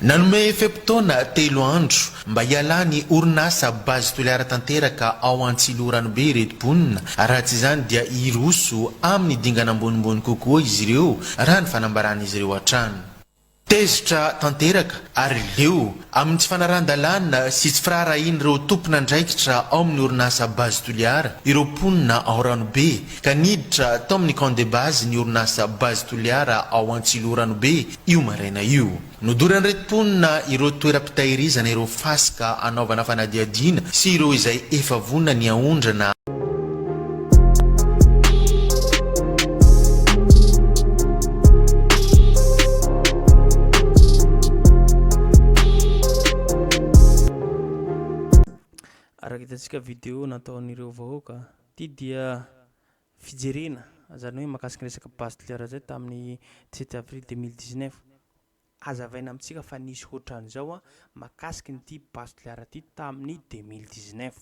Nanome fe-potoana telo andro mba hialan'ny orinasa Base Toliara tanteraka ao Antsiloranobe ireto mponina, raha tsy izany dia hiroso amin'ny dingana ambonimbony kokoa izy ireo, raha ny fanambaran'izy ireo hatrany. Tezitra tanteraka ary leo amin'ny tsy fanarahan-dalàna sy tsy firaharahian'ireo tompon'andraikitra ao amin'ny orinasa Base Toliara ireo mponina ao Ranobe, ka niditra tao amin'ny Camp de Base ny orinasa Base Toliara ao Antsiloranobe, io maraina io. Nodoran'ireto mponina ireo toeram-pitahirizana ireo fasika hanaovana fanadihadiana sy ireo izay efa vonona ny haondrana. Araka hitantsika video nataon'ireo vahoaka, ity dia fijerena zany hoe mahakasika ny resaka base de l'heure zay tamin'ny dix sept avril deux mille dix neuf azavaina amintsika fa nisy ohatran'izao a mahakasika an'ity base de l'heure ity tamin'ny deux mille dix neuf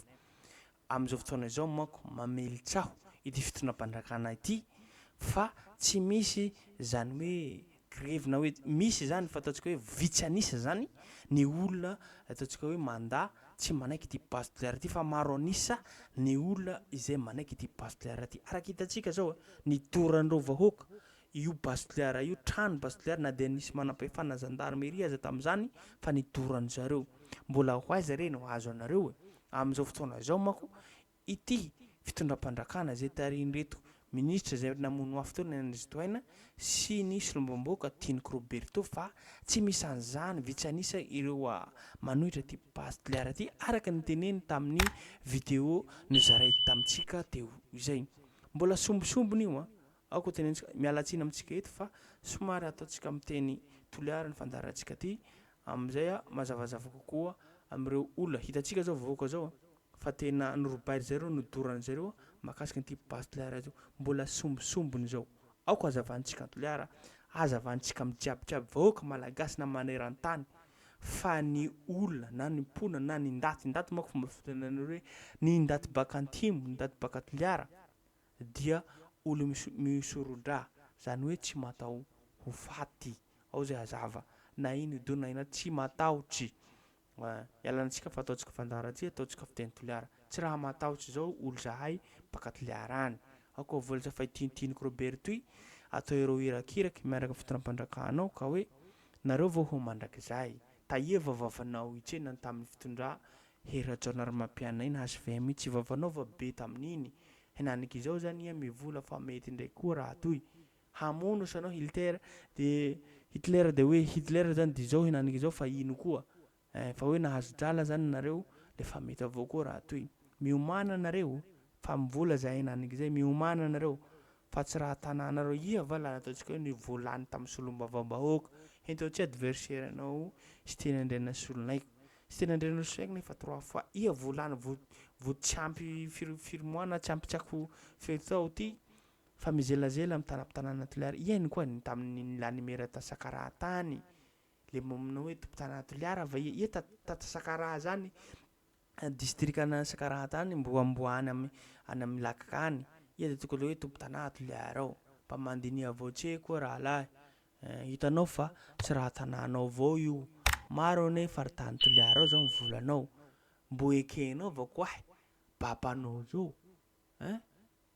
amin'izao fotoana izao manko mamelin-tsaho ity fitondram-panjakana ity fa tsy misy zany hoe grevy na hoe misy izany fa ataontsika hoe vitsy an'isa izany ny olona ataontsika hoe mandà tsy manaiky ity base de l'air ity fa maro an'isa ny olona izay manaiky ity base de l'air ity. Araka hitantsika izao ny doran'ireo vahoaka io base de l'air io, trano base de l'air na dia nisy manampahefana zandarmeria aza tamin'izany fa ny doran'izareo. Mbola ho aiza re no hahazo anareo e? Amin'izao fotoana izao manko Ity fitondram-pandrakana izay tarihin'ireto minisitra izay namono mafy teo ny an'i Ristoaina sy ny solombambaoka Tianiko Roberto fa tsy misan'izany vitsy an'isa ireo manohitra ity Base de l'Art ity araka ny teneniny tamin'ny video nozarainy tamintsika teo izay. Mbola sombisombiny io an! Aoka tenenitsika, miala tsiny amintsika eto fa somary ataontsika amin'ny teny Toliara ny fandaharantsika ity amin'izay mazavazava kokoa amin'ireo olona hitantsika izao vahoaka izao an! Fa tena norobain-dry zareo no doran-dry zareo mahakasika an'ity base Toliara ity. Mbola sombisombiny izao. Aoka hazavantsika Toliara, hazavantsika amin'ny jiabijiaby vahoaka malagasy na maneran-tany fa ny olona na ny mponina na ny ndaty, ndaty manko fomba fitenenanareo hoe ny ndaty baka antimo, ny ndaty baka Toliara dia olona misorodra, izany hoe tsy mataho ho faty. Ao izay hazava. Na ino dona ina tsy matahotry. Mba ialana antsika fa ataontsika fandaharantsika, ataontsika fiteny toliara. Tsy raha matahotra izao olo zahay mpaka toliara any. Ao koa vola zay fa i Tintiniko Robert toy atao ireo hirakiraky miaraka fitondram-pandrakana ao ka hoe nareo vao ho mandrakizay. Tahia va vavanao hitsena tamin'ny fitondra hery Rajaonarimampianaina hvm io tsy vavanao va be tamin'iny henaniko izao zany iha mivola fa mety indray koa raha toy hamono osa anao Hilter de Hitler de hoe Hitler zany de zao henaniky zao fa ino koa eh fa hoe nahazo drala zany nareo de fa mety avao koa raha toy miomana nareo fa am vola zay henaniky zay miomana nareo fa tsy raha tananareo iha va la ataontsika hoe ny voa lany tam solombavao bahoaka hento tsy adversaire anao Siteny Andrianasolonaiky Siteny Andrianasolonaiky nefa trois fois iha voa lany voa voa tsy ampy firy firy mois na tsy ampy tsy ako firy tao ty fa mizelazela amin'ny tanam-pitanana Toliara. Hihaino koa ny tamin'ny nilanimera ta Sakaraha tany. Ilay manao hoe tompon-tanana Toliara va iha? Iha ta ta ta Sakaraha zany distrikan'i Sakaraha tany mbo amboa any am any amin'ny lac any. Iha dia tokony hoe tompon-tanà Toliara ao. Mba mandiniha avao tse koa rahalahy eh. Hitanao fa tsy raha tanànao avao io. Maro anie faritany Toliara ao zao ny volanao. Mbo ekenao va koahy? Baba anao zao eh.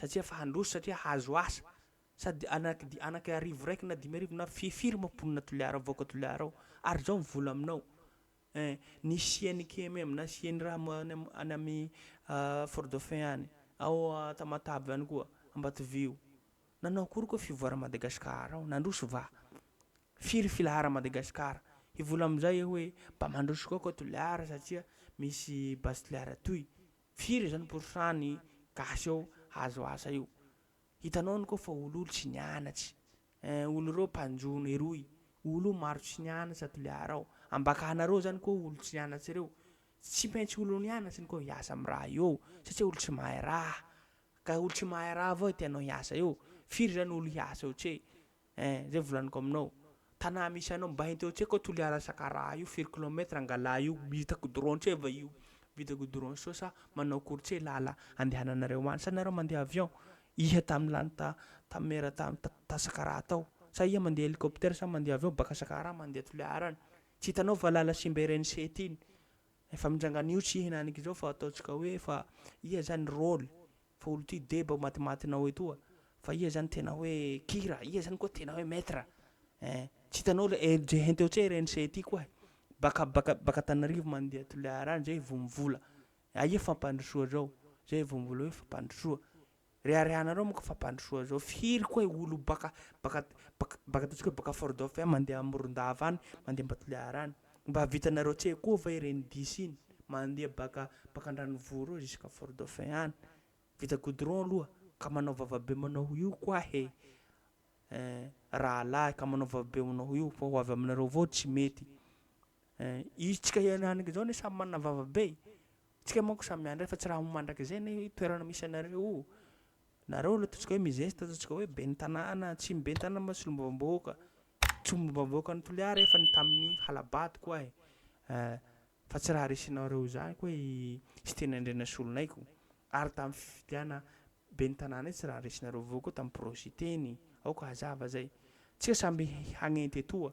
satria efa handroso satria hahazo asa sady anaky di anaky arivo raiky na dimy arivo na fi firy moa mponina Toliara vahoaka Toliara ao ary zao ny vola aminao eh ny siany KMM na siany raha mo any am any ami Fort Dauphin any ao Tamatave any koa Ambatovio nanao akory koa fivoara Madagascar ao nandroso va firy filahara Madagascar hivola amizay hoe mba mandroso koa koa Toliara satria misy base Toliara toy Firy izao ny pourcent ny gasy ao hahazo asa io? Hitanao any koa fa ololo tsy nianatsy eh, olo reo mpanjono eroy, olo maro tsy nianatsy à Toliara ao, ambakahanareo zany koa olo tsy nianatsy reo, tsy maintsy olo nianatsy ny koa hiasa am raha io ao satria olo tsy mahay raha, ka olo tsy mahay raha avao tianao hiasa eo, firy zany olo hiasa eo tse, Eh, zay volaniko aminao. Tanà misy anao mba enteo tsy haiko Toliara Sakaraha io firy kilomètre Angalà io vita goudron tse va io vita goudron soa sa manao akory tse lala andehananareo any sa nareo mandeha avion iha tam lany ta tam mera tam ta Sakaraha tao sa iha mandeha hélicoptère sa mandeha avion baka Sakaraha mandeha Toliara any tsy hitanao va lala simba ireny sety iny efa mindrangana io tsy hinanik'izao fa ataontsika hoe fa iha zany rôle Fa olo ty deba o matimatinao etoa fa ia zany tena hoe kira ia zany koa tena hoe maitre eh tsy hitanao le LJ hein teo tse rnc ty koa eh baka baka baka tanarivo mandeha toliara any zay vo mivola aia fampandrosoa zao zay vo mivola hoe fampandrosoa reharehanareo moko fampandrosoa zao firy koa eh olo baka baka baka baka ataontsika hoe baka fort dauphin mandeha morondava any mandeha mba toliara any. Mba vitanareo tsy hay koa va ireny dish iny mandeha baka baka andranivohitra ao jusqu'à fort dauphin any. Vita goudron aloha ka manao vava be manao io koa he eh rahalahy ka manao vava be manao io fa ho avy aminareo avao tsy mety eh isika hianarnga izao anie samy manana vava be e. Tsika manko samy miandry fa tsy raha ho mandrakizay anie io toerana misy anareo io. Nareo le ataontsika hoe mizesta ataontsika hoe ben'ny tanàna, tsy ny ben'ny tanàna moa solombavambahoaka, tsolombavambahoakan'i Toliara efa ny tamin'ny hala-bato ko ahy eh, fa tsy raha resinareo izany ko i Siteny Andrianasolonay ko, ary tamin'ny fifidiana ben'ny tanàna iny tsy raha resinareo vahoaka tamin'ny pro-Siteny, aoka hazava zay, tsika samby hagnenty etoa,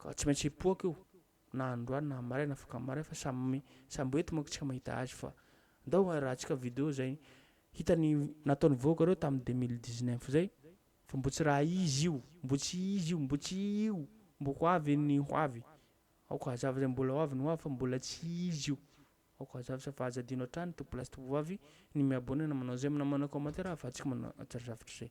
Ka tsy maintsy hipoaka io na androany na maraina afaka maraina fa samy samby eto manko tsika mahita azy fa ndao arahantsika video zay hita ny nataony vahoaka reo tam deux mille dix neuf zay fa mbo tsy raha izy io mbo tsy izy io mbo tsy io mbo ho avy ny ho avy aoka hazava zay mbola ho avy ny ho avy fa mbola tsy izy io aoka hazava zay fa aza adino hatrany tompolahy sy tovovavy ny miabonena manao zay na manao commentaire ahafahantsika manatatra zavatra zay.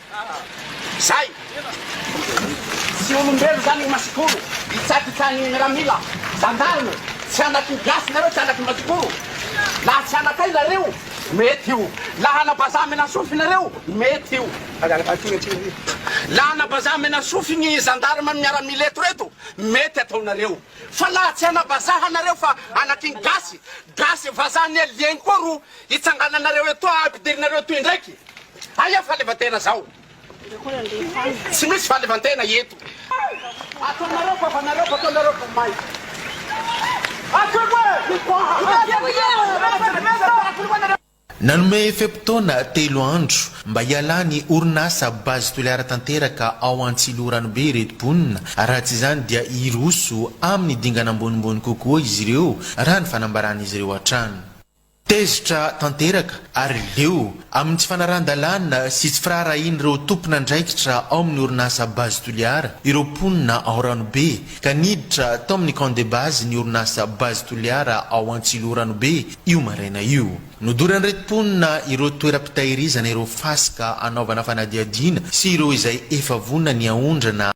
Zay! Tsy olombelo zany i Masikoro, hitsakitsany miaramila, gendarme, tsy anak' ny gasy nareo, tsy anak' ny Masikoro, laha tsy anakay nareo, mety io, laha ana bazaha menasofy nareo, mety io, laha ana bazaha menasofy ny gendarme miaramila eto reto, mety ataonareo, fa laha tsy ana bazaha nareo fa anak' ny gasy, gasy, vazaha anie lieny koa ro Hitsangananareo etoa hampidirinareo etoa indraiky. Aia fahaleovantena zao? Tsy misy fahaleovantena eto. Ataonareo vavanareo fataonareo vomaika. Nanome fe-potoana telo andro mba hialan'ny orinasa Base Toliara tanteraka ao Antsiloranobe ireto mponina, raha tsy izany dia hiroso amin'ny dingana ambonimbony kokoa izy ireo, raha ny fanambaran'izy ireo hatrany. Tezitra tanteraka ary leo amin'ny tsy fanarahan-dalàna sy tsy firaharahian'ireo tompon'andraikitra ao amin'ny orinasa Base Toliara ireo mponina ao Ranobe ka niditra tao amin'ny camp de base ny orinasa Base Toliara ao Antsiloha Ranobe io maraina io. Nodoran'ireto mponina ireo toeram-pitahirizana ireo fasika hanaovana fanadihadiana sy ireo izay efa vonona ny haondrana